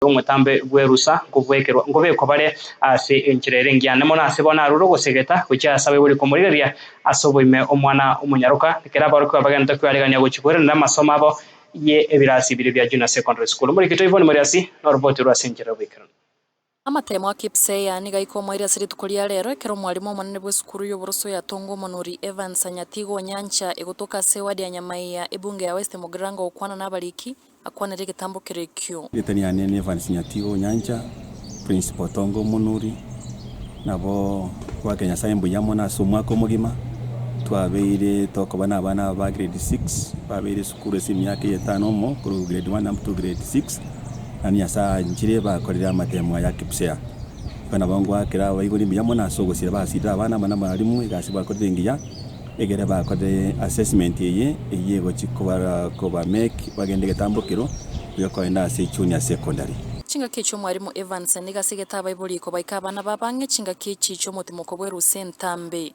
omotambe bw'erusa, nkobwekerwa, nkobekwa bare ase enchera ere engiya. Nemo nase bono arure ogosegeta gochia ase abaibori komorigereria ase oboime omwana omonyaroka. Ekero aborokigwa abagenete kwearegania gochia koeranera amasomo abo ye ebirasi bire bia Junior Secondary School, Omoreketo Yvonne Moriasi noroboti rwe ase enchera y'oboikeranu. Amatemo a Kipseier nigo aika omoerio ase rituko ria reero, ekero omwarimu omonene bw'esukuru y'oboroso ya Tongo Omonuri Evans Anyatigo Onyancha egotoka ase ewadi ya Nyamaiya, ebunge ya West Mugirango gokwana nabariki, Akwanere egetambo kere ekio. Ritani yane ni Evans Nyatigo Onyancha, Prince Botongo Omonuri, nabo twakire Nyasaye mbuya mono ase omwaka omogima, twabeire tokoba nabana aba ba grade six, babeire esukuru ase emiaka eye etano omo korwa grade one up to grade six, naende Nyasaye anchire bakorire amatemo aya Kipsea. Igo nabo ngoakera abaibori mbuya mono ase ogosira, basirire abana amo namwarimu egasi bakorire engiya. Ekero bakore assessment eye, eyio egochia kobakoba MEC bagende egetambokero gi'okoenda ase Junior Secondary. Chingaki echi omwaremo Evans nigo ase egetabaibori kobaika abana ba bang'e chingaki echi chi'omotimoko bwe Ruse Ntambe.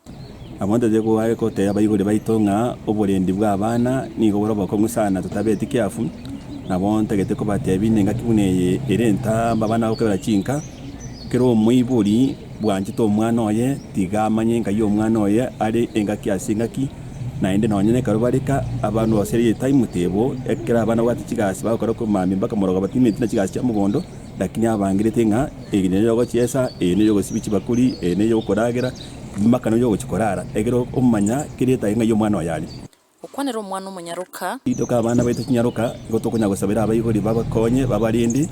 Abwo ntoche goare gotebia abaibori baito ng'a oborendi bw'abana nigo bore obokong'u sana totabeti kiafu, nabo ntagete kobatebia nengaki buna eye ere entamba abana bagokebera chinka kera omoibori bwanchete omwana oye tiga amanye enka y'omwana oye are engaki ase engaki, naende nonya nekero bareka abana ase rieta imotebo, ekero abana babwate chigasi bagokora komamia mpaka moroga batimeti na chigasi chia mogondo, lakini abangerete ng'a eye neyo yogochiesa, eye neyo yogosibia chibakuri, eye neyo yogokoragera, mpaka neyo yogochia korara, ekero okomanya kerieta ng'a y'omwana oye are. Gokwanera omwana omonyaroka. Rituko abana baito chinyaroka nigo tokonya gosabera abaibori babakonye babarindi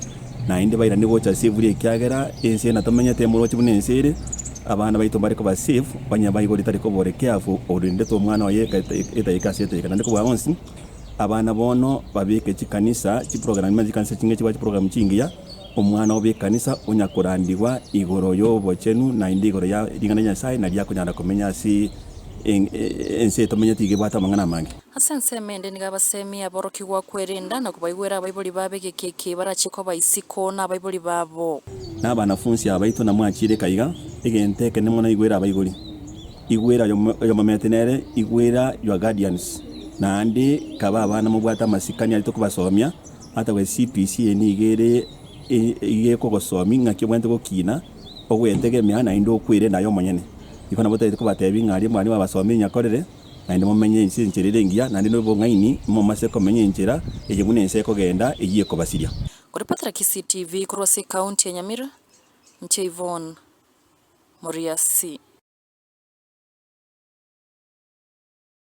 naende bairane gocha ase eburi ekiagera ense eye natomenyete emorochi buna ense ere abana baito mbare koba safe onye abaibori tari kobore careful orindete omwana oye etaika ase etaika naende kobua bonsi abana bono babeke chikanisa chiprogram chikanisa chinge chiba chiprogram chingiya Omwana bw'ekanisa onyakorandigwa igoro y'obochenu naende igoro ya ring'ana ria Nyasae, nario akonyara komenya ase ense eye tomenyete iga ebwate amang'ana amange. Ase ensemo ende nigo abaseemie aborokigwa kwerenda na kobaigwera abaibori babo egeki eki barachie koba isiko na abaibori babo. Na abanafunsi abaito namwachiireka iga, egento ekenene mono igwera abaibori. Igwera oyomomete nere igwera your guardians, naende kaba abana mobwate amasikani aria tokobasomia, Hata we CPC nigo ere iga ekogosomi ng'aki obwenerete gokina, ogwetegemea naende okwerenda aye omonyene. Iko nabotaete kobatebia ng'a aria mwarenge abasomi inyakorere, naende momenye ense enchera ere engiya, naende nobong'aini momase komenya enchera eye buna ense ekogenda eyio ekobasiria. Koripotera Kisii TV korwa ase ekaunti ya Nyamira, inche Yvonne Moriasi.